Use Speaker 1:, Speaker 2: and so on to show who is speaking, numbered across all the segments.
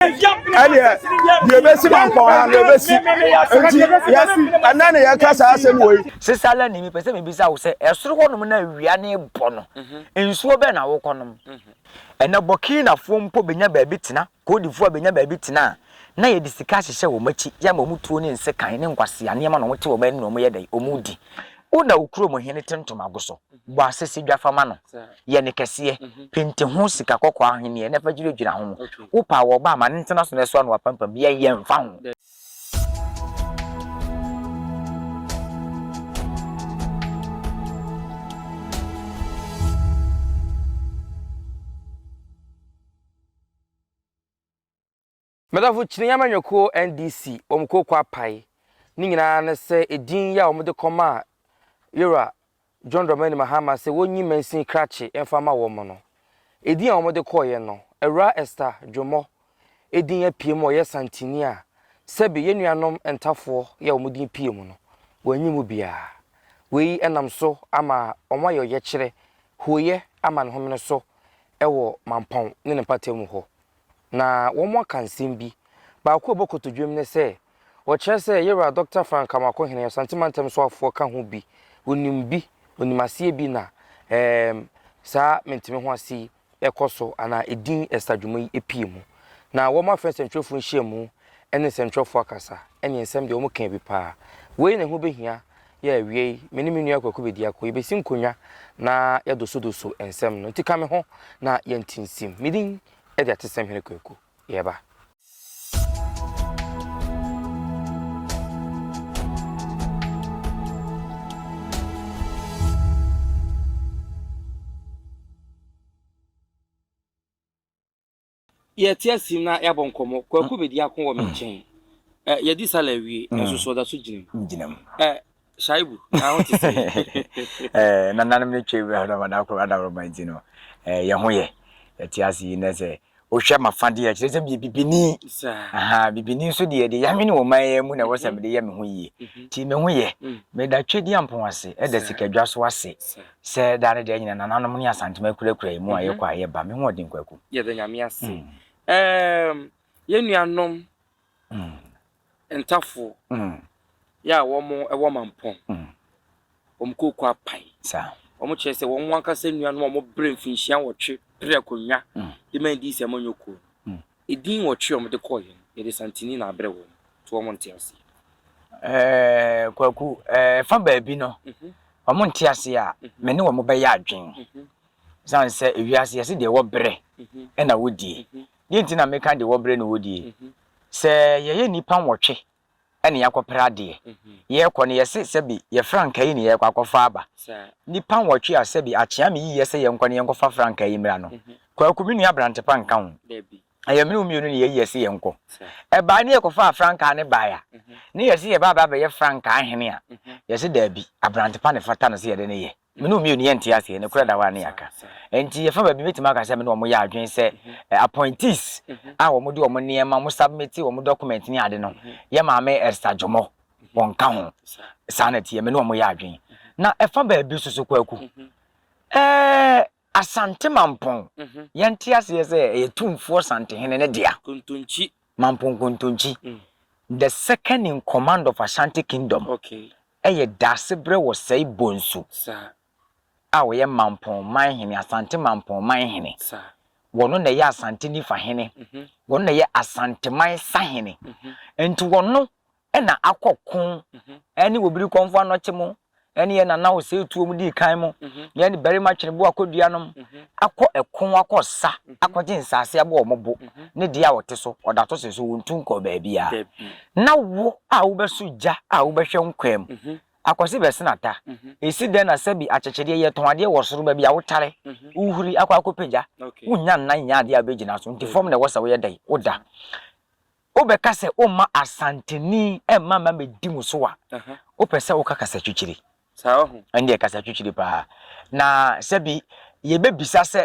Speaker 1: ɛdeɛ deɛ ɛbɛsi mampɔn ha no ɛbɛsi nti yɛsi ɛnɛ na yɛka saa asɛm wɔ yi sesa la ni mepɛ
Speaker 2: sɛ mebisa wo sɛ ɛsoro hɔnom na awia ne bɔ no mhm. nsuo bɛn na wokɔ nom mhm. ɛnɛ bɔkinafoɔ mpo bɛnya baabi tena koodifoɔ a bɛnya baabi tena a na yɛde sika ahyehyɛ wɔn akyi yɛama wɔn tuo ne nsekan ne nkwasea nneɛma na wɔte wɔn anim na wɔyɛ dɛ wɔn di wo na okuro mu hene te ntomago so Bɔ asese dwa fa ma no, yɛ no kɛseɛ, pente ho sika kɔkɔɔ ahweneɛ na fa dwiradwira ho. Wo pɛ a, wɔ ɔba a, ma no ntena so na ɛso ano apampam, yɛn yɛmfa ho.
Speaker 3: Madamfo Kyini amanyɔkuo NDC wɔn kuo kwapae ne nyinaa ne sɛ edin yi a wɔn de kɔmaa Yowura John Dramani Mahama sɛ wɔnyi mansin krakye mfa ma wɔn no, edin a wɔn de kɔeɛ no, Awuraa Esther Dwommɔ edin apue mu a ɔyɛ Santini a sɛbe yɛn nuanom Ntafoɔ yi a wɔn din pue mu no wɔanyi mu biara. Wei nam so ama wɔn ayɛ ɔyɛkyerɛ, huoyɛ ama ne homene so wɔ Mampɔn ne ne mpatamu hɔ. na wɔaka nsɛm bi. Baako a ɛbɔ kotodwam ne sɛ, Wɔkyerɛ sɛ Yera, Dɔkta Frank Kamaako Hene, Asante Mantam soafoɔ ka ho bi, ɔnim bi, ɔnim aseɛ bi na ɛɛm saa menteme ho ase yi ɛkɔ so anaa ɛdin ɛsa dwuma yi ɛpie mu. Na wɔn afrɛ nsɛntwerɛfoɔ nhyiamu ɛne nsɛntwerɛfoɔ akasa ɛne nsɛm deɛ wɔkaa bi paa. Wei na ɛho bɛhia. Yɛ awiei, me ne me nua Kwaku Bediako, yebesi nkonnwa na yɛadosodoso nsɛm no. Nti ka me ho na yɛnte nsim. Me din de Atesamhene Kwaku. Yɛreba. Yɛte ase mu na yɛabɔ nkɔmmɔ. Kwaku bedi ako wɔ me nkyɛn. Ɛ, yɛadi sala awie, nanso so ɔda so gyina mu. Gyina mu. Ɛ, Shaibu, na ho te sɛn? Ɛ, nananom no twam
Speaker 2: na ɔdɔm adakoro adaworoma nti no, ɛ, yɛn ho yɛ. Yɛte ase yi nnɛ sɛ wohwɛ m'afa deɛ a, ɛkyerɛ sɛ meyɛ bibini. Saa. Aha, bibini nso deɛ, deɛ yɛanwene wɔ man yi mu na ɛwɔ sɛ mede yɛ me ho yie. Nti me ho yɛ. Meda Tweduampɔn ase, ɛda Sikadwa so ase. Saa. Sɛ daa ne daa nyina nananom ne Asantema akurakura yɛn mu a yɛkɔ a yɛba. Me ho ɔden Kwaku. Yɛda Nyame
Speaker 3: ase. Erm yɛn nuanom Ntafoɔ yɛ a wɔn wɔ Mampong wɔn kooko apae. Wɔn kyerɛ
Speaker 2: sɛ wɔn
Speaker 3: ankasa nuanom a wɔn brɛ mfinhyia nwɔtwe pere akonnwa de ma yɛn dii sɛ monyɛ okuo no. Edin nwɔtwe a wɔde kɔeɛ no, yɛde Santini na abrɛ wɔn, nti wɔn nte aseɛ. Ɛɛɛ Kwaku,
Speaker 2: ɛfa baabi no, wɔn nte aseɛ a, me ne wɔn bɛyɛ adwen. Ɛsiane sɛ ewiase yɛse deɛ ɛwɔ berɛ na wodie. Deɛ nti na meka deɛ ɛwɔ berɛ na wodie, sɛ yɛyɛ nnipa nwɔtwe na yɛakɔpere adeɛ. Yɛrekɔ no, yɛse sɛbe yɛ frankaa yi na yɛrekɔ akɔfa aba. Nnipa nwɔtwe a sɛbe akyea me yiye sɛ yɛnkɔ na yɛnkɔfa frankaa yi mmra no, Kwaku, me nua Abrantepa nka ho. Ɛyɛ me ne wo mmienu na yɛayi yɛse yɛnkɔ. Ɛbae na yɛkɔfaa frankaa no bae a, na yɛse yɛreba abɛyɛ frankaa hene a, yɛse daabi, Abrantepa na ɛfata no sɛ yɛde no yɛ. Me ne wo mmienu yɛnte aseɛ, nokorɛ da hɔ a ne yɛaka. Enti ɛfa baabi mɛtumi aka sɛ me ne wɔn yɛ adwene sɛ appointees a wɔde wɔn nneɛma, wɔn submit wɔn documents ne ade no, yɛ Maame Esther Jomo, wɔnka ho. Saa na ɛteɛ, me ne wɔn yɛ adwene. Na ɛfa baabi nso so Kwaku, ɛɛ Asante Mampong, yɛnte aseɛ sɛ ɛyɛ Tumfoɔ Santehene no dea. Kontonkyi.
Speaker 3: Mampong Kontonkyi,
Speaker 2: the second in command of Ashanti Kingdom, yɛ
Speaker 3: Daasebrɛ
Speaker 2: wɔ Sɛe Bonsu
Speaker 3: a ɔyɛ
Speaker 2: Mampong man hene, Asante Mampong man hene. Ɔno
Speaker 3: na ɛyɛ
Speaker 2: Asante Nifa hene, ɔno na ɛyɛ Asanteman sahene. Enti ɔno na akɔ ko ne wɔ biri kɔmfo anɔkye mo ne yɛ nana wɔ sɛ tuo mu dii kan mo yɛ ne barima twene bo akɔ dua nom akɔ ɛko akɔ sa akɔ gye nsaase abɔ wɔn bo ne deɛ a wɔte so ɔda to se so wɔn tu nkɔ baabi a na wo a wobɛso gya a wobɛhwɛ nkwa mu akɔse bɛsenata ɛsi dɛn na sɛbi akyekyedeɛ yɛ tɔn adeɛ wɔ soro baabi a wotare wohuri akɔ akɔpagya wonya nna nyɛ adeɛ a wobɛgyina so nti fam na ɛwɔ sɛ woyɛ dɛn woda Wobɛka sɛ womma Asanteni mma mmɛdi mo so a, wopɛ sɛ woka kasatwitwiri. Ɛndeɛ
Speaker 3: kasatwitwiri paa.
Speaker 2: Na sɛbi yɛbɛbisa sɛ,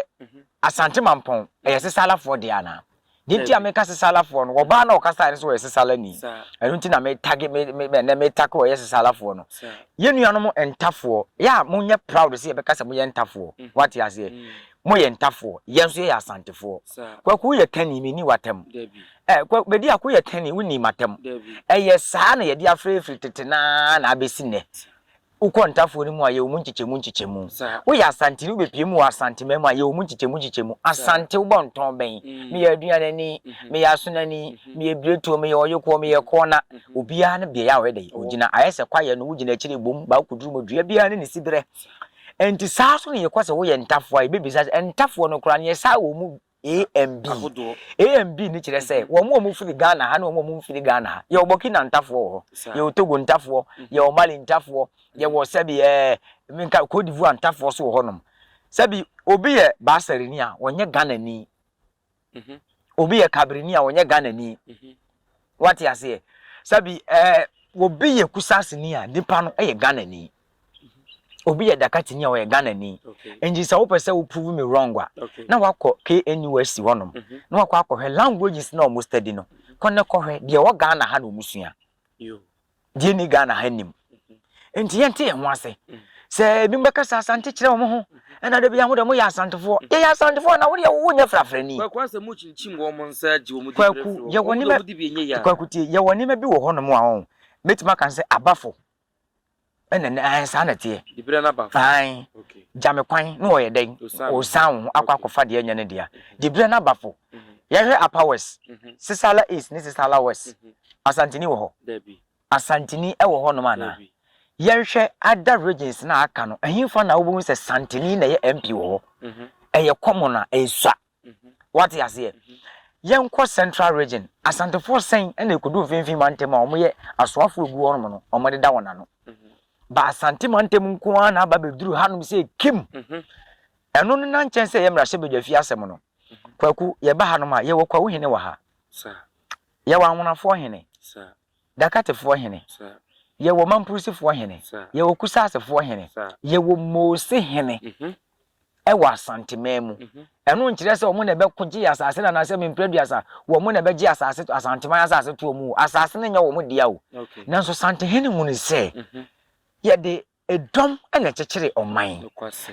Speaker 2: Asante Mampɔn, ɛyɛ Sesalafoɔ dea anaa? Deɛ nti a meka Sesalafoɔ no, wɔbaa na ɔkasaeɛ no nso ɔyɛ Sesalani. Ɛno nti na metagi, me, me, ɛnnɛ metake ɔyɛ Sesalafoɔ no. Yɛn nuanom Ntafoɔ, yɛ a monyɛ proud sɛ yɛbɛka sɛ moyɛ Ntafoɔ. Woate aseɛ? Mo yɛ Ntafoɔ, yɛn nso yɛ yɛ Asantefoɔ. Kwaku wo yɛ kani, me nni w'atam. Ɛɛ Kwa, Bediak wo yɛ kani, wo nni m'atam. Ɛyɛ saa na yɛde afrɛ firi tete no ara na abɛsi nnɛ. Wo kɔ Ntafoɔ no mu a, yɛwɔ mu nkyekyɛmu nkyekyɛmu. Wo yɛ Asanteni, wo bɛpue mu wɔ Asanteman mu a, yɛwɔ mu nkyekyɛmu nkyekyɛmu. Asante wo bɔ ntɔn bɛn? Me yɛ Aduanani, me yɛ Asonani, me yɛ Biretuo, me yɛ Ɔyekoɔ, me yɛ Kɔɔna. Obiara ne beaɛ a ɔyɛ dɛn? Ɔgyina. Ayɛ sɛ kwaeɛ no, wogyina akyire bom, baako duru mu, dua biara ne ne siberɛ. Enti saa ara nso na yɛkɔ sɛ woyɛ ntafowa a, yɛbɛbisa sɛ, ntafoɔ no koraa no, yɛsaa wɔn mu A and B. A and B no kyerɛ sɛ, wɔn a wɔfiri Ghana ha ne wɔn a wɔmfiri Ghana ha. Yɛwɔ Burkina ntafoɔ wɔ hɔ, yɛwɔ Togo ntafoɔ, yɛwɔ Mali ntafoɔ, yɛwɔ sɛbi ɛɛ, menka, Cote d'Ivoire ntafoɔ nso wɔ hɔnom. Sɛbi obi yɛ Baasɛreni a, ɔnyɛ Ghanani. Obi yɛ Kabrini a ɔnyɛ Ghanani. Wate aseɛ? Sabi ɛɛ obi yɛ Kusasini a nipa no yɛ Ghanani. Obi yɛ Dakatini a ɔyɛ Ghanani. Nti sɛ wopɛ sɛ wo prove me wrong a, na wakɔ KNUST hɔ nom na wakɔ akɔhwɛ languages no a wɔn study no. Kɔ na kɔhwɛ deɛ ɛwɔ Ghana ha na wɔn sua. deɛ ɛnni ghana ha nnim nti yɛnte yɛn ho ase sɛ ebi bɛkasa asante kyerɛ wɔn ho ɛna de bi ahodoɔ mo yɛ asantefoɔ mm. yɛyɛ asantefoɔ na wodeɛ wo nyɛ frafrani kwaku asɛ mo kyinkyim
Speaker 3: wɔn mo nsa gye wɔn kwaku yɛwɔ
Speaker 2: nneɛma kwaku tie yɛwɔ nneɛma bi wɔ hɔ nom a wɔn mɛtumi aka sɛ abafo ɛna ne ahan saa na teɛ dibira na abafo ahan gyame kwan na wɔyɛ dɛn wɔsan wɔn ho akɔ akɔfa deɛ ɛnyɛ ne dea dibira na abafo Yɛhwɛ Upper West, Sissala East ne Sissala West, Asanteni wɔ hɔ? Asanteni wɔ hɔnom anaa? Yɛnhwɛ other regions no a aka no, ɛhefa na wobɛhu sɛ Santeni na ɛyɛ MP wɔ hɔ? Ɛyɛ common a, ɛnsua. Woate aseɛ? Yɛnkɔ Central Region, Asantefoɔ sɛn na ɛkɔdu Mfimfini Mantam a wɔyɛ asoafoɔ gu hɔnom no, wɔdeda wɔn ano? Ba Asante Mantam nko ara na aba abɛduru hanom sɛ Kim Ɛno no na nkyɛn sɛ ɛyɛ mmarahyɛbadwafie asɛm no. Kwaku, yɛba hanom a, yɛwɔ Kwawu hene wɔ ha. Yɛwɔ Anwonafoɔ hene. Dakatefoɔ hene. Yɛwɔ Mampurusifoɔ hene. Yɛwɔ Kusaasefoɔ hene. Yɛwɔ Mose hene wɔ Asanteman mu. Ɛno nkyerɛ sɛ wɔn na ɛbɛko gyee asase no anaasɛ Mimpreduasa, wɔn na ɛbɛgye asase, Asanteman asase toɔ mu o. Asase no nyɛ wɔn dea o. Nanso Santehene hunuu sɛ yɛde Dɔm na ɛkyekyere ɔman.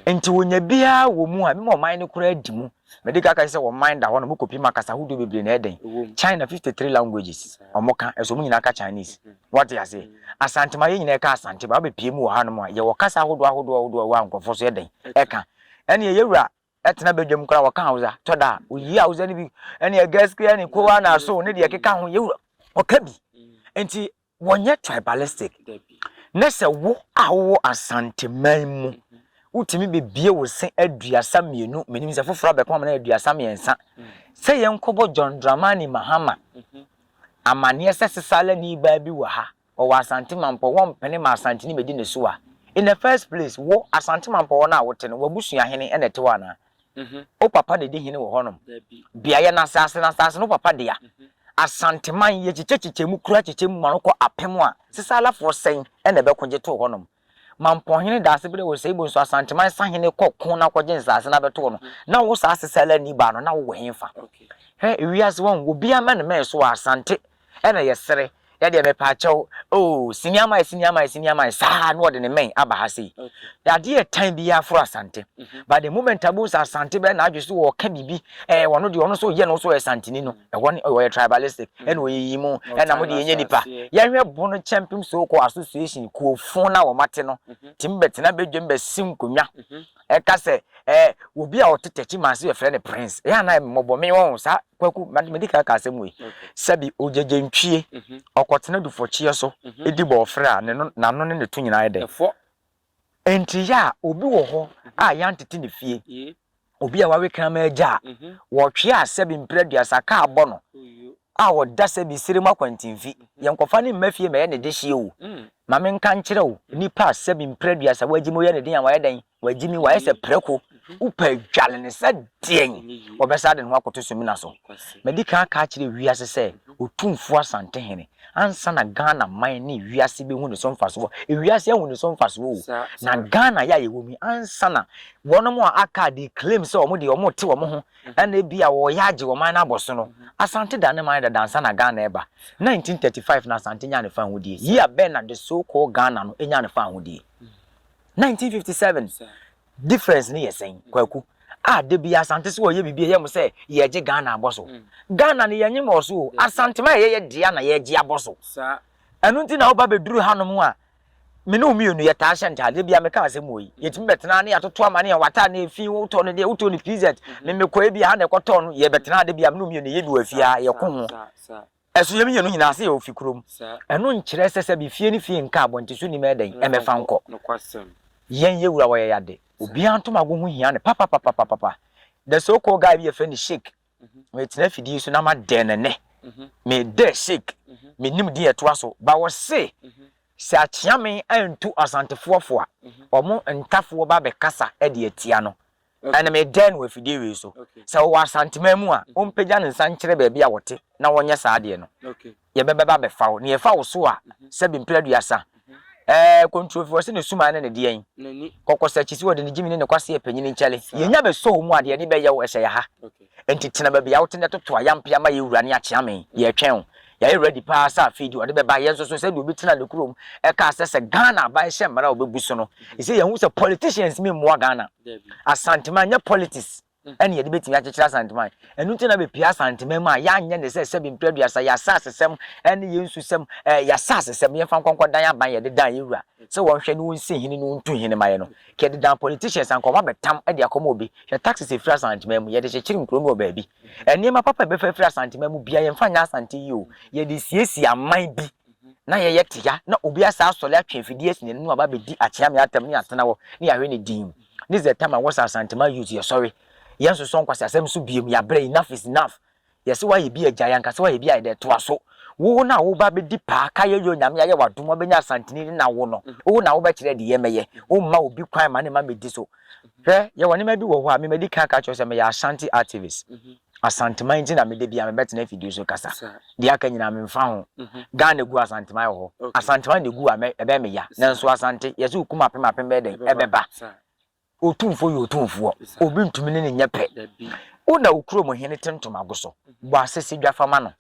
Speaker 2: Nti wonya bi ara wɔ mu a, mema ɔman no koraa di mu. Medi kan ka sɛ ɔman da hɔ na wɔkɔpim akasa ahodoɔ bebree na ɛyɛ dɛn? China 53 languages wɔka, nso wɔn nyinaa ka Chinese. Woate aseɛ? Asantema, yɛn nyinaa ɛka Asante, ba wobɛpie mu wɔ hanom a, yɛwɔ kasa ahodoɔ ahodoɔ ahodoɔ a ɛwɔ ha a nkurɔfoɔ nso yɛ dɛn? Ɛka. Ɛnneɛ yɛwura tena badwam koraa wɔka Hausa, tɔ da a, woyi Hausa no bi, ɛnneɛ Gaskiya ne Kowa na So ne deɛ ɛkeka ho, yɛwura, wɔka bi. Nti wɔnyɛ tribalistic na sɛ wo a wowɔ Asanteman mu wotumi bebue wo se aduasa mmienu menim sɛ foforɔ abɛko ama no ayɛ aduasa mmiɛnsa sɛ yɛnkɔbɔ John Dramani Mahama amanneɛ sɛ Sesalani baa bi wɔ ha ɔwɔ Asante Mampɔ wɔmpene ma Asanteni mɛdi ne so a in the first place wo Asante Mampɔ hɔ no a wote no w'abusuahene na ɛte hɔ anaa Wo papa na edi hene wɔ hɔnom? Bea yɛ n'asaase, na asaase no wo papa dea. Asanteman, yɛkyekyɛkyekyɛ mu kura kyekyɛ mu ma no kɔ apem a, Sisalafoɔ sɛn na ɛbɛko gye too hɔnom? Mampɔnhene Daasebrɛ wɔ Seibo nso, Asanteman sahene kɔ ko na kɔgye nsaase na bɛtoo no. Na wo saa Sisalani baa no, na wowɔ henfa? Hwɛ, wiase, wahu, obiara mmɛnmɛn so wɔ Asante Ɛna yɛsere, yɛdeɛ mepaakyɛw oo, sini ama yɛ, sini ama yɛ, sini ama yɛ, saa na ɔde ne mmɛn aba ha sei. Adeɛ yɛ tan biara foro Asante. But the moment abu nsa Asante bɛyɛ n'adwe so ɔka biribi, ɛɛ wɔn deɛ wɔn nso yɛ no nso yɛ Santini no, ɛhɔ ne ɔyɛ tribalistic, ɛna ɔyiyi mu, ɛna mo deɛ yɛnyɛ nipa. Yɛhwɛ Bono Kyɛmpem so-called association, kuofo no a wɔate no, tumi bɛtena badwam bɛsi nkonnwa, Ɛka sɛ, Ɛ, obi a ɔte Tɛkyi mansin yɛfrɛ no Prince, ɛ a na mmɔbɔ me wɔ ho saa, Kwaku, ma, medi kan aka asɛm wei, sɛbi ogyegye ntwie, ɔkɔtena dufɔkyeɛ so di bɔɔfrɛ a ne no, n'ano ne ne to nyinaa yɛ dɛ. Ɛfɔ. Enti yɛ a obi wɔ hɔ a yɛantete ne fie, obi a wawe kraman agya a, wɔtwe a sɛbi mpire aduasa kaa bɔ no a ɔda sɛbi serem akwantinfi, yɛnkɔfa no mma fie mmɛyɛ ne dehyeɛ o, Ma menka nkyerɛ wo, nnipa a sɛbi mprɛ aduasa wɔagye me, woyɛ ne den a wɔayɛ dɛn? Wɔagye me, wɔayɛ sɛ prako. Wopɛ adwale no sɛ deɛn? Wɔbɛsa de ne ho akɔto sumina so. Madi kan aka akyerɛ wiase sɛ Otumfuo Asantehene ansa na Ghana man ne wiase bɛhu ne so mfasoɔ. Ewiase ahu ne so mfasoɔ o. Na Ghana yɛ a yɛwɔ mu yi ansa na wɔnom a aka a they claim sɛ wɔn deɛ wɔte wɔn ho Ɛna ebia wɔreyɛ agye ɔman no abɔ so no, Asante da ne man dada ansa na Ghana reba. Nineteen thirty five na Asante nyaa ne fawohodie. Year bɛn na the so called Ghana no nyaa ne fawohodie? Nineteen fifty seven. Difference no yɛ sɛn, Kwaku? A da bi Asante sɛ wɔreyɛ biribi a ɛyɛ mo sɛ yɛregye Ghana abɔ so. Ghana no yɛnnye mmɔɔ so o, Asanteman a yɛyɛ dea na yɛregye abɔ so. Ɛno
Speaker 3: nti na woba
Speaker 2: bɛduru hanom a, Me ne wo mmienu, yɛtaa hyɛ ntadeɛ. Ebia meka asɛm wɔ yi. Yɛtumi bɛtena ha na yɛatoto amanneɛ. W'atadeɛ no yɛ fi, wotɔ no deɛ, wotɔ no PZ. Me mekɔ a, ebia ha na yɛkɔtɔɔ no. Yɛbɛtena ha da bi a, me ne wo mmienu, yɛyɛ bi wɔ afie ha, yɛko ho. Ɛso yɛn mmienu nyinaa sɛ yɛwɔ fi kurom. Ɛno nkyerɛ sɛ sɛbe fie ne fie nka abɔnten so nnim ɛdɛn, ɛmmɛfa nkɔ. Yɛn yɛ wura wɔ yɛn ade. Obiara ntomago ho hia no papapapapapa. There's so called guy bi yɛfrɛ no Sheik. metena fidie so na ma dɛn no nɛ me dɛ shake me nim deɛ ɛtoa so ba wɔ se sɛ akyea me antu asantefoɔ fo a ɔmo ntafoɔ ba bɛ kasa ɛde atia no ɛne me dɛn no wɔ fidie wei so sɛ ɔwɔ asanteman mu a ɔmpagya ne nsa nkyerɛ baabi a ɔte na ɔnyɛ saa deɛ no yɛbɛba bɛfa wo, na yɛfa wo so a, sɛbe mpere aduasa. Ɛɛ, kontrofi wɔ se ne suman ne ne deɛn? Kɔkɔsakyi se wɔde ne gyimi ne ne kwaseɛ panyini nkyɛre. Yɛnya bɛsɔ wo mu a, deɛ yɛde bɛyɛ wo, ɛhyɛ yɛ ha. Enti tena baabi a wote na toto ayampea ma yɛn wura ne Akyeame. Yɛretwɛn wo. Yɛayɛ ready paa sɛ afei deɛ ɔde bɛba. Yɛn nso so, sɛdeɛ obi tenaa ne kurom kaa sɛ, sɛ Ghana aba ɛhyɛ mmara a ɔbɛbu so no, ɛsɛ yɛhu sɛ politicians mmɛmmua Ghana. Asanteman nyɛ politics. na yɛde betumi akyekyere Asanteman. Ɛno nti na bepue Asanteman mu a yɛanyɛ ne sɛ sɛbi mpere aduasa, yɛn asasesɛm ne yɛn nsusɛm, ɛɛ yɛn asasesɛm, yɛmfa nkɔ nkɔdan aban a yɛde dan yɛn wura sɛ wɔnhwɛ na wɔnsi hene na wɔntu hene ma yɛn no. Nka yɛde dan politicians anka wɔn abɛtam de akɔma obi. Hwɛ taxes a efiri Asanteman mu, yɛde kyekyere nkuro no wɔ baabi. Nneɛma papa a ɛbɛfa afiri Asanteman mu biara yɛmfa nyɛ Asante yie o, yɛde siesie aman bi na yɛyɛ tea na obi asan asɔre atwe afidie asi n'anim aba abɛdi Akyeame atam na yɛatena hɔ na yɛahwɛ no dinn. This is the time a wɔsɛ Asantema youth yɛsɔre, yɛnsosɔ nkwaseasɛm so biom, yɛabrɛ, enough is enough. Yɛse woayɛ bi a gyae, anka sɛ woayɛ bi a yɛdɛ toa so. Wo na a woreba abɛdi paa, ka yɛyɔ Nyame ayɛ wo adom wabɛnya Asanteni ne na wo no, wo na wobɛkyerɛ deɛ yɛmɛyɛ, womma obi kwan ma ne mma mɛdi so. Hwɛ, yɛwɔ nneɛma bi wɔ hɔ a me madi kan aka akyerɛ wo sɛ meyɛ Ashanti activist. Asanteman nti na meda bia mebɛtena afidie so kasa deɛ aka nyinaa menfa ho Ghana gu Asanteman wɔ hɔ Asanteman na egu a ɛbɛyɛ me ya nanso Asante yɛse okum apem apem bɛyɛ dɛn ɛbɛba Otumfoɔ yɛ otumfoɔ obi ntumi ne no nyɛ pɛ Wo na wo kurom hene te ntoma go so bɔ asese dwa fa ma no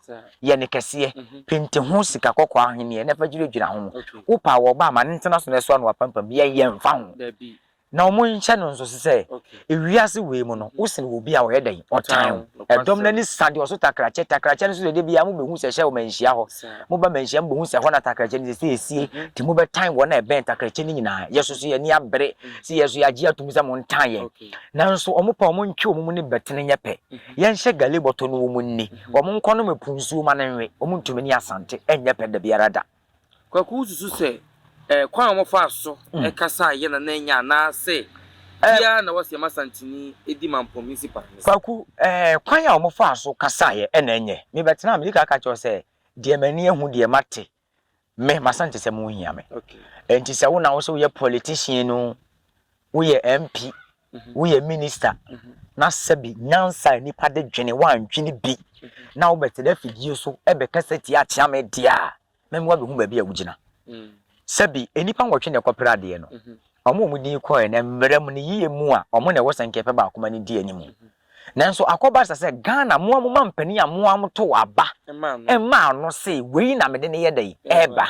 Speaker 2: yɛ no kɛseɛ penti ho sika kɔkɔɔ ahweneɛ na fa dwiradwira ho Wo paa wɔ ɔbaa ma no ntena so na ɛso ano apampam yɛn yɛnfa ho Na wɔnhyɛ no nso sɛ wiase wei mu no, wo sene obi a ɔyɛ dɛn? Ɔtan wo. Ɛdɔm no ani sa deɛ ɔso takrakyɛ. Takrakyɛ no nso deɛ da biara mobɛhu sɛ ɛhyɛ wɔ manhyia hɔ. Moba manhyia mobɛhu sɛ ɛhɔ na takrakyɛ no sɛsɛ ɛsie. Nti mobɛtan wɔn a ɛbɛn takrakyɛ no nyinaa. Yɛn nso so yɛn ani abere sɛ yɛn nso yɛagye atom sɛ montan yɛn. Nanso wɔn pɛ wɔntwe wɔn mu ne bɛtene nyɛ pɛ. Yɛnhyɛ gale bɔtɔ no wɔn nni. Wɔn nkɔnom ɛpo nsuo ma no nwe. Wɔntumi ne asante nyɛ pɛ da biara da. Kwaku, wususu
Speaker 3: sɛ ɛyɛ kwan a wɔfaa so kasaa yɛ na na enye anaasɛ bi ara na wɔsɛ ma Santini di ma Mpom nsi pan no so? Kwaku, Ɛyɛ
Speaker 2: kwan a wɔfaa so kasaa yɛ na enye. Mebɛtena a mede ka aka kyerɛ wo sɛ deɛ m'ani ahu, deɛ mate, me, m'Asantesɛm ho hia me. Enti sɛ wo na wosɛ woyɛ politician oo, woyɛ MP woyɛ minister na sɛbi nyansa a nnipa de dwene woandwene bi na wobɛte dɛ afidie so bɛkasa tia akyea me deɛ a, mɛma woabɛhu baabi a wogyina. Sɛbi nnipa nwɔtwe na ɛkɔpere adeɛ no. Wɔn a wɔdin kɔeɛ no, mmara mu no, yiyɛ mu a, wɔn na ɛwɔ sɛnkɛpɛ baako ma no di anim. Nanso akɔba sa sɛ Ghana, mo ara mo ma mpanin a mo ara motow aba maa no se, wei na mede no yɛ dɛn? Ɛreba.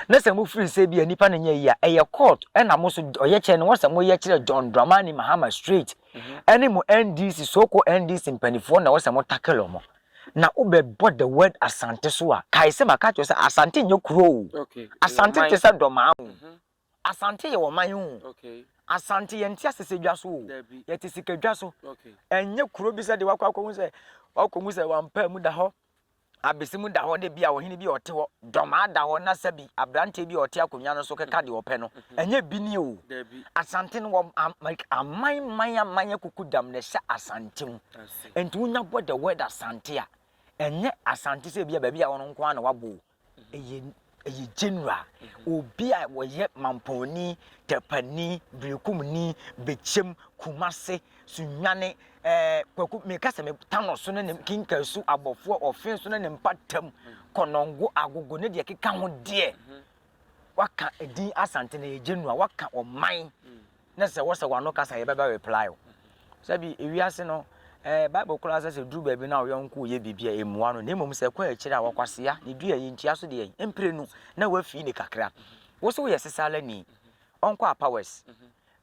Speaker 2: Na sɛ mofiri sɛ ebia nipa no nyɛ yie a, ɛyɛ court na mo so ɔyɛkyɛ no wɔsɛ moyɛ kyerɛ John Dramani Mahama straight ɛne mo NDC so called NDC mpaninfoɔ na wɔsɛ mo tackle wɔn. Na wobɛbɔ the word Asante so a, kae sɛ maka akyerɛ wo sɛ Asante nyɛ kuro o. Asante te sɛ Dɔmaa o. Asante yɛ ɔman o. Asante yɛnte asese dwa so o. Yɛte sika dwa so. Ɛnyɛ kuro bi sɛ deɛ wakɔ akɔhu sɛ wakɔhu sɛ wampaa mu da hɔ. Abasimu da hɔ dɛ bi a ɔhene bi a ɔte hɔ, dɔm ara da hɔ na sɛbi aberanteɛ bi a ɔte akonnwa no so keka deɛ ɔpɛ no. Ɛnyɛ bi nie oo. Asante no wɔ aman man aman akukudam na ɛhyɛ Asante mu. Ɛnti wo nya bɔ the word Asante a, ɛnyɛ Asante sɛ bi a baabi a wɔ no nko ara na wabɔ oo. Ɛyɛ ɛyɛ general obi a wɔyɛ mampɔni tɛpani birikumni bɛkyɛm kumase sunyane ɛɛ eh, kwaku meka sɛ metano so ne ne kinkasu abɔfoɔ ɔfe so ne ne mpatam kɔnɔngo agogo ne deɛ keka ho deɛ waka edin asante na ɛyɛ general waka ɔman Na sɛ wosɛ w'ano kasa a yɛbɛbɛ reply wo. Sɛbi ewiase no eh, Bible koraa sɛ sɛ duru baabi na wo yɔnko reyɛ biribi a ɛmmua no, na mmom sɛ ɛkɔ akyire a ɔkwasea, ne dua yi ntua so deɛn? Mprenu na wafii ne kakra. Wo so woyɛ Sesalani, ɔnkɔ Upper West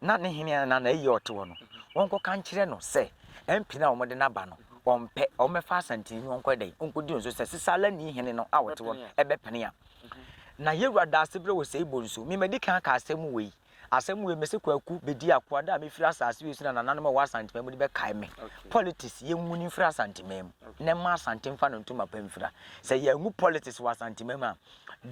Speaker 2: na ne hene anaa n'ayie a ɔte hɔ no, ɔnkɔka nkyerɛ no sɛ MP no a wɔde no aba no, ɔmpɛ, ɔmmɛfa Asanteni no ɔnkɔyɛ dɛn? Ɔnkɔdi nso sɛ Sesalani hene no a ɔte hɔ no bɛpene a. Na Yewura da ase berɛ wɔ Seibo nso. Memadi kan aka asɛm wei. Asɛm wei, mese Kwaku bɛdi akoa da a mɛfiri asase wei so na nananom a wɔwɔ Asanteman mu no bɛkae me. Politics, yɛnwuni mfiri Asanteman mu na ɛmma Asante mfa no ntoma pa mfira. Sɛ yɛanwu politics wɔ Asanteman mu a,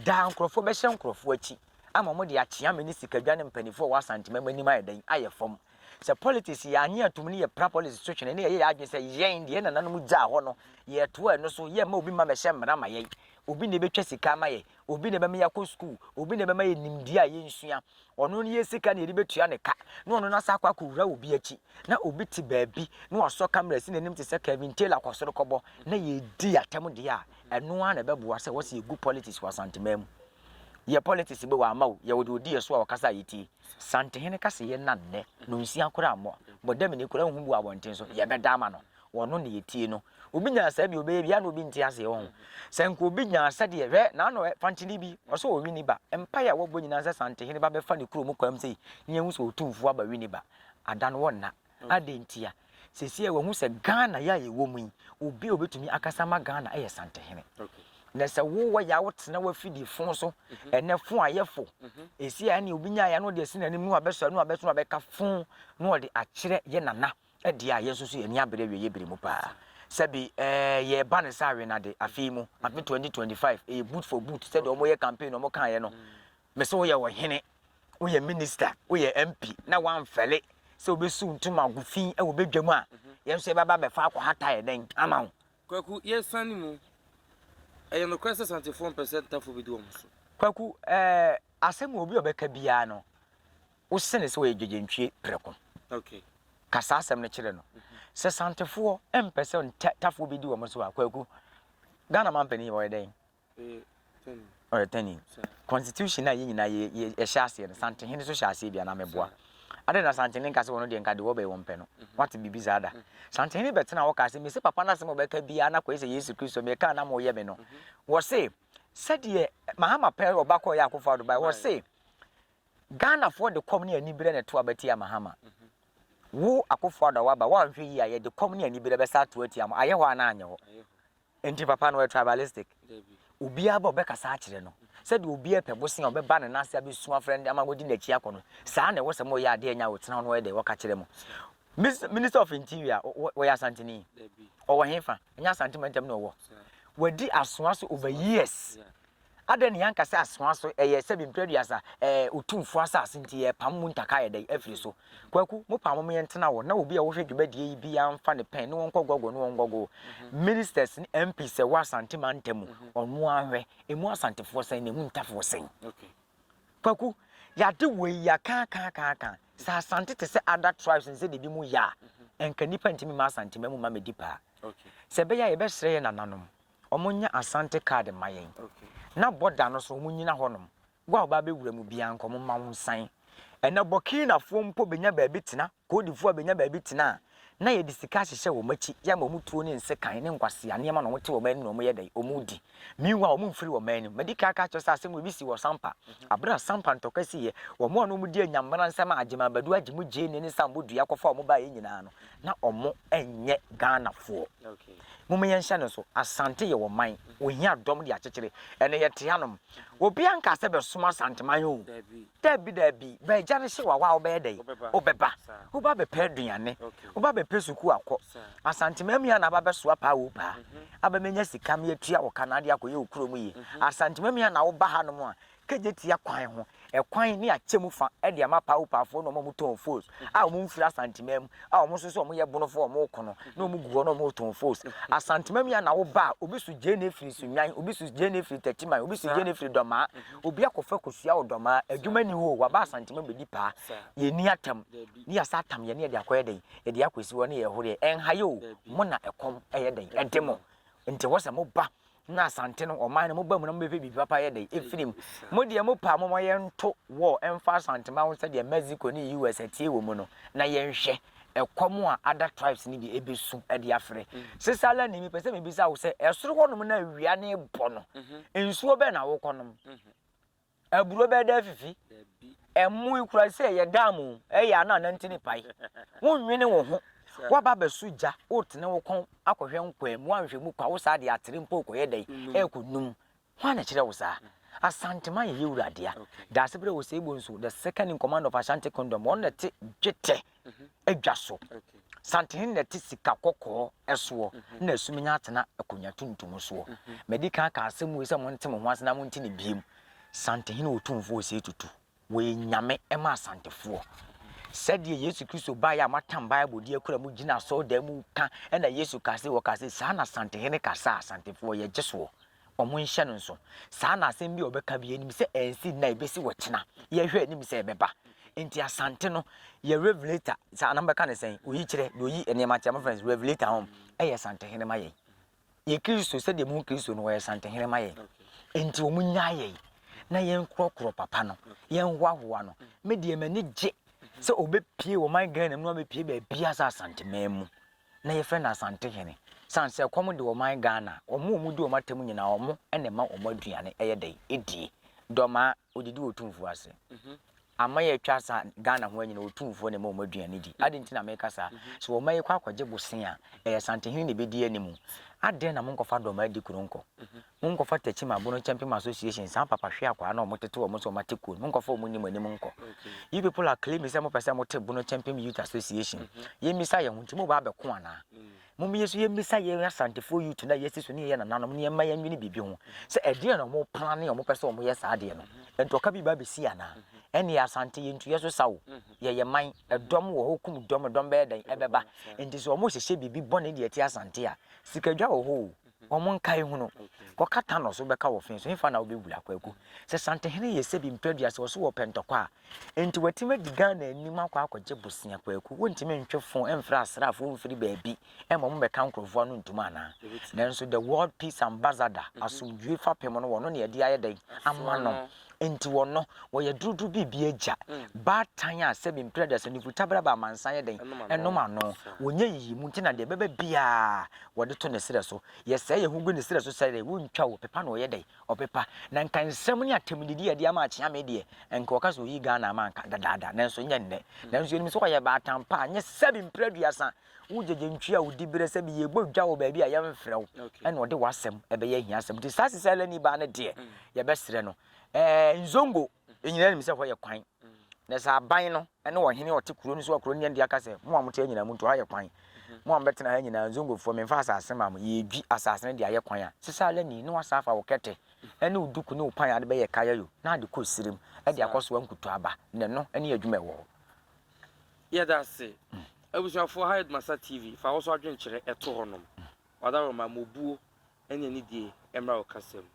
Speaker 2: daa nkurɔfoɔ bɛhyɛ nkurɔfoɔ akyi ama wɔde akyea me ne Sikadwa ne mpaninfoɔ a wɔwɔ Asanteman mu anim ayɛ dɛn? Ayɛ fam. Sɛ politics yɛanye atom ne yɛpra politics so twene na yɛyɛ yɛn adwene sɛ yɛn deɛ yɛn nananom gyaa hɔ no yɛtoa ɛno so, yɛmma obi mma mmɛhyɛ mmara ma yɛn, obi na ɛbɛtwa sika ama yɛn, Obi na ɛbɛma yɛakɔ sukuu, obi na ɛbɛma yɛ nimdeɛ a yɛnsua, ɔno ne yɛ sika na yɛde bɛtua ne ka, na ɔno no asa akɔ akɔwura obi akyi, na obi te baabi na wasɔ camera si n'anim te sɛ Kevin Taylor kɔ soro kɔbɔ, na yɛredi atɛm deɛ a, ɛno ara na ɛbɛboa sɛ wɔse yɛgu politics wɔ Asanteman mu. Yɛ politics bɛ wɔamma o, yɛwɔ deɛ ɔdi yɛ so a ɔkasa a yɛtie. Santehene ka sɛ yɛnna nnɛ, na ɔnsua koraa mmɔ, bɔdamini koraa nhu bu wɔ abɔnten so, yɛbɛda ama no. Wɔno na yɛtie no. Obi nya saa bi ɔbɛyɛ bi a na obi nte aseɛ wɔ ho. Sɛ nka obi nya asɛdeɛ hwɛ naano ɛ fankyene bi ɔsɛ wɔ winiba mpaeɛ a wɔbɔ nyinaa sɛ santehene ba bɛfa ne kuro mu kwan mu sei ne yɛhu sɛ ɔtumfuo aba winiba ada no wɔnna adɛn ntia sesie wɔhu sɛ Ghana yɛ a yɛwɔ mu yi obi a ɔbɛtumi akasa ma Ghana ɛyɛ santehene na sɛ wowɔ yɛ a wotena wafidie fo so ɛnɛ fo ayɛ fo ɛsi a ɛne obi nya yɛ no ɔde asi n'anim no abɛsɔ no abɛso abɛka fo na ɔde akyerɛ yɛ nana Ɛdeɛ a yɛn nso so yɛn ani abere awieeɛ bere mu paa. Sɛbe eh, yɛreba no sɛ awenade afei mu, afe 2025, ɛyɛ boot for boot sɛdeɛ wɔyɛ campaign no wɔkaeɛ no. Me se woyɛ ɔhene, woyɛ minister, woyɛ MP na woamfɛle sɛ wobɛsiw ntoma agu fi wɔ badwam a, yɛn nso yɛbɛba abɛfa akɔhata yɛ dɛn ama wo? Kwaku, yɛresane
Speaker 3: mu, ɛyɛ nokorɛ sɛ Asantefoɔ mpɛ sɛ Ntafoɔ bɛdi wɔn so? Kwaku,
Speaker 2: eh, asɛm a obi a ɔbɛka biara no, wo sene sɛ wɔyɛ gyegyenntwie prɛko.
Speaker 3: Ka saa asɛm no
Speaker 2: kyerɛ no. Sɛ Santefoɔ mpɛ sɛ Tafoɔ bɛdi wɔn so a, Kwaku, Ghana mampanin yi ɔyɛ dɛn? Ɔyɛ tani. Constitution a yɛn nyinaa yɛhyɛ aseɛ no, Santehene nso hyɛ aseɛ bi anaa meboa. Adɛn na Santehene nka sɛ wɔn deɛ nka deɛ wɔbɛyɛ wɔn pɛ no? Wate biribi saa da? Santehene bɛtena hɔ kaa sɛ, mese papa no asɛm a ɔbɛka biara na kɔyɛ sɛ Yesu Kristo mekaa na moyɛ me no. Wɔse, sɛdeɛ Mahama pɛ ɔba kɔɔ yɛ akofo ado bae, wɔse, Ghanafoɔ de kɔm ne aniberɛ na ɛto aba tia Mahama. Wo Akuffo Addo a woaba, woanhwɛ yie a yɛde kɔm ne aniberɛ bɛsa ato atia mo, ayɛ hɔ anaa anyɛ hɔ? Enti papa no ɔyɛ tribalistic? Obiara ba a ɔbɛkasa akyerɛ no, sɛdeɛ obiara pɛ bosea a ɔbɛba ne nan ase abɛsu afrɛ no ama wadi n'akyi akɔ no, saa na ɛwɔ sɛ moyɛ adeɛ ɛnyɛ a ɔtena hɔ na ɔyɛ deɛ ɔka kyerɛ mo. Mis, Minister of Interior, ɔ, ɔyɛ Asanteni? Ɔwɔ hefa? Ɛnyɛ Asante mantam na ɔwɔ? Wadi asoa so over years. Adɛn na yɛanka sɛ asoa so ɛyɛ sɛ bi mprɛduasa ɛɛ Otumfoɔ asase nti yɛrepam mu ntaka ayɛ dɛn afiri so? Kwaku, mo paa mo yɛntena hɔ na obi a ɔhwɛ dwumadie yi biara mfa ne pɛn ne wɔnkɔ gɔgɔ ne wɔngɔgɔ o. Ministers ne MPs a ɛwɔ Asante mantam mu, ɔno ara nhwɛ. Ɛmu Asantefoɔ sɛn na ɛmu Ntafoɔ sɛn?
Speaker 3: Kwaku,
Speaker 2: yɛade wei yɛakaakaakaaka. Sɛ Asante te sɛ other tribes ne sɛdeɛ binom yɛ a, ɛnka nnipa ntumi mma Asanteman mu ma mmɛdi paa. Sɛ ɛbɛyɛ
Speaker 3: a yɛbɛsrɛ
Speaker 2: yɛn nananom wɔn nyɛ Asante card mma yɛn na border
Speaker 3: no so
Speaker 2: wɔn nyina hɔ nom wo a ɔbaa bɛ wura mu biaa nka wɔn mma wo nsan ɛnɛ Burkina foɔ mpo bɛ nya baabi tena Cote d'Ivoire bɛ nya baabi tena a na yɛ de sika ahyehyɛ wɔn akyi yɛ ama wɔn tuo ne nsekan ne nkwasea nneɛma na wɔn te wɔn anim na wɔn yɛ dɛn wɔn redi meanwhile wɔn mfiri wɔn anim mɛ di kan aka kyerɛ sɛ asɛm wɔ bi si wɔ Sampa abere a Sampa ntɔkwa si yɛ wɔn a na wɔn di anyamena nsɛm a Agyemang Badu Agyemu Gyeni ne Sambo Dua kɔfa wɔn baa yɛ nyinaa no na ɔmo nyɛ Ghana foɔ. Moma yɛn
Speaker 3: hyɛ no nso.
Speaker 2: Asante yɛ ɔman. Ohia dɔm de akyekyere. Ɛnɛ yɛ te hanom. Obia nkaa sɛ bɛ som Asanteman oo. Daabi daabi. Bɛ agya no hye wawa a wobɛyɛ dɛn? Wobɛba. Woba bɛ pɛ aduane. Woba bɛ pɛ sukuu akɔ. Asanteman mu yi ana aba bɛ soa paa oo paa. Aba menya sika me atua wo ka na ade akɔ yɛ wo kuro mu yie. Asanteman mu yi ana woba hanom a Kejetia kwan ho kwan ne akyɛmu fa de ama Paupafo ne wɔn a wɔtɔn fos a wɔmfiri Asanteman mu a wɔn nso sɛ wɔyɛ bonofo a wɔreko no na wɔgu hɔ na wɔretɔn fos. Asanteman mu yɛ na woba a, obi so gyeene firi Sunnwan, obi so gyeene firi Tatiman, obi so gyeene firi Dɔmaa. Obi akɔfa kosua wɔ Dɔmaa, adwuma nni hɔ o, waba Asanteman bɛdi paa. Yɛnni atam, ne yɛasa atam yɛ ne yɛde akɔyɛ dɛn? Yɛde akɔsi hɔ ne yɛrehoreɛ. Ɛnha yɛ o, mo na ɛkɔm yɛ dɛn? Ɛde mo. Nti ɛwɔ sɛ moba na asante no ɔman no moba mu na mobɛpɛ biribi papa yɛ dɛn ɛfiri mu mo deɛ mo paa moma yɛnto wɔ ɛmfa asantema ho sɛdeɛ Mexico ne US atie wɔ mu no na yɛnhwɛ ɛkɔm a ada tribes no bi ɛbɛsu de afrɛ sesa la ne mepɛ sɛ mebisa wo sɛ ɛsoro hɔnom na awia ne bɔ no nsuo bɛn na wokɔnom Aburo bɛda afifi. Ɛmmoe koraa sɛ ɛyɛ dam o, ɛyɛ a na anante ne pae. Wonnwene wo ho. Woaba abɛsɔ gya, wotene wo kɔn akɔhwɛ nkwaa mu, woanhwɛ mu kwa, wo saa deɛ atere mpo rekɔyɛ dɛn? Ɛrekɔnum. Hwan na ɛkyerɛɛ wo saa? Asantema yɛ Yewura dea. Daasebrɛ Osei Bonsu, the second in command of Ashanti Kingdom, ɔno na ɛte dwetɛ. adwa so. Santene na ɛte sika kɔkɔɔ soɔ, na asum nya atena akonnwa tuntum soɔ. Madi kan aka asɛm wei sɛ monte mo ho ase na monte no biom. Santehene Otumfoɔ Osei Tutu, wɔyɛ Nyame ma Asantefoɔ. Sɛdeɛ Yesu Kristo baeɛ a moatam Bible de akura mu gyina asɔredan mu ka, ɛna Yesu kaa sɛ, wɔkaa sɛ, saa na Santehene ka saa, Asantefoɔ yɛgye soɔ. wɔnhyɛ no nso. Saa na asɛm bi a wɔbɛka bi, yɛnim sɛ ɛnsi nnɛ a, ɛbɛsi wɔ kyena. Yɛhwɛ anim sɛ ɛbɛba. Nti Asante no, yɛ Revelator, saa na mobɛka no sɛn? Oyi kyerɛ, deɛ ɔyi nneɛma kyerɛ, mofrɛ no sɛ Revelator hom, ɛyɛ Santehene ma yɛn. Yɛ Kristo, sɛdeɛ mohu Kristo no, ɔyɛ Santehene ma yɛn. Nti wɔnnyaa yɛn, na yɛnkorɔkorɔ papa no, yɛnhoahoa no. Me deɛ m'ani gye sɛ ɔbɛpue ɔman Ghana mu na wabɛpue baabiara sɛ Asanteman mu. na yɛfrɛ no Asantehene sane sɛ ɛkɔm de ɔman Ghana a, wɔn a wɔdi wɔn atam nyinaa wɔn na ɛma wɔn aduane ɛyɛ dɛn ɛdie. Dɔmaa, ɔdidi Otumfuo ase. Aman a atwa sa Ghana ho nyinaa Otumfuo na ɛma wɔn aduane di. Adɛn nti na meka saa? Sɛ ɔman yi kɔ akɔgye bosea a, ɛyɛ Asantehene na ɛbɛdi anim. Adɛn na monkɔfa Dɔmaa di kuro nkɔ? Monkɔfa Tɛkyim Abono Kyɛmpem Association saa papa hwe akwaa na ɔmo tete wɔn sɛ ɔmo ate kuo no monkɔfa ɔmo nni mo anim nkɔ you people are claiming sɛ mopɛ sɛ mote Bono Kyɛmpem Youth Association yɛmmisa yɛn ho nti moba abɛko anaa mom yɛ so yɛmmisa yɛn Asantefoɔ youth no a yɛasi so ne yɛyɛ nananom no yɛmma yɛnwene biribi ho sɛ ɛdeɛn na ɔmo plane a ɔmo pɛ sɛ ɔmo yɛ saa adeɛ no ntɔka bi ba abɛsi anaa ɛnneɛ Asante yɛntu yɛ so sa o yɛyɛ man ɛdɔm wɔ hɔ kum dɔm ɛdɔm bɛyɛ dɛn ɛbɛba nti sɛ ɔmo hyehyɛ biribi bɔne de ati Asante a sikadwa wɔ hɔ o Wɔn nkae hunu. Kɔka tanɔ so bɛka wɔ fee so, hefa na wobɛwura, Kwaku? Sɛ Santehene yɛ sɛbi mprɛ aduasa wɔ so wɔ Pɛntɔkwa a, enti watumi adi Ghana anim akɔ akɔgye bosea, Kwaku? Wontumi ntwe fon mfrɛ asraafoɔ mfiri baabi mma wɔmmɛka nkurɔfoɔ ano ntom anaa? Nanso the World Peace Ambassador, Asomdwoe Fapem no, wɔno na yɛde ayɛ dɛn ama no? Enti wɔno, wɔyɛ duruduru biribiara gya, baatan a sɛbi mprɛ aduasa, nufutabere aba amansan yɛ dɛn, ɛnom ano. Wɔnyɛ nyiyimu, enti na deɛ ɛbɛba biara wɔde to ne serɛ so. Yɛsɛe yɛn ho gu ne serɛ so sɛ dɛn, wontwa o, pepa na ɔyɛ dɛn, ɔpepa. Na nka nsɛm ne atɛmdidi a ɛde ama Akyeame deɛ, nka wɔka sɛ ɔyii Ghana ama anka dadaada, nanso nyɛ nnɛ. Nanso yɛnim sɛ ɔyɛ baatan pa a, nyɛ sɛbi mprɛ aduasa, Wo gyegye ntwi a wo di bere sɛ bi yɛ bɔ dwa wɔ baabi a yɛn frɛ wo ɛna ɔde w'asɛm ɛbɛyɛ ahiasɛm nti saa sisa lani baa no deɛ yɛ bɛ srɛ no ɛɛ nzongo nyinaa nim sɛ hɔ yɛ kwan na sɛ aban no ɛne ɔhene ɔte kuro no so a kuro no yɛn deɛ aka sɛ mo a mo te ha nyinaa mo ntu ha yɛ kwan mo a mo bɛtena ha nyinaa nzongofoɔ memfa asase ma mo yɛ dwi asase no de ayɛ kwan a sisa lani ne wasan afa wo kɛtɛ ɛne wo duku ne wo pan ade bɛyɛ kaya yo na ade kɔ sirem ɛde akɔ so ankutu aba na ɛno ɛne adwuma ɛwɔ hɔ.
Speaker 3: Yɛda ase. Abusuafoɔ ha yɛ Dumasa TV, fa wo so adwenkyerɛ to hɔ nom. Ɔdaworoma, ma obuo ne anidie mmra wo kasa mu.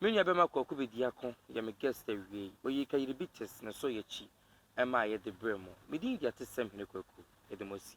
Speaker 3: Me nua bɛma Kwaku Bediako yɛ me guest awiei. Ɔyii Kayiribites ne So Yɛ Kyi maeɛ de brɛɛ mo. Me din de Atesɛm Hene Kwaku. Yɛda mo asi.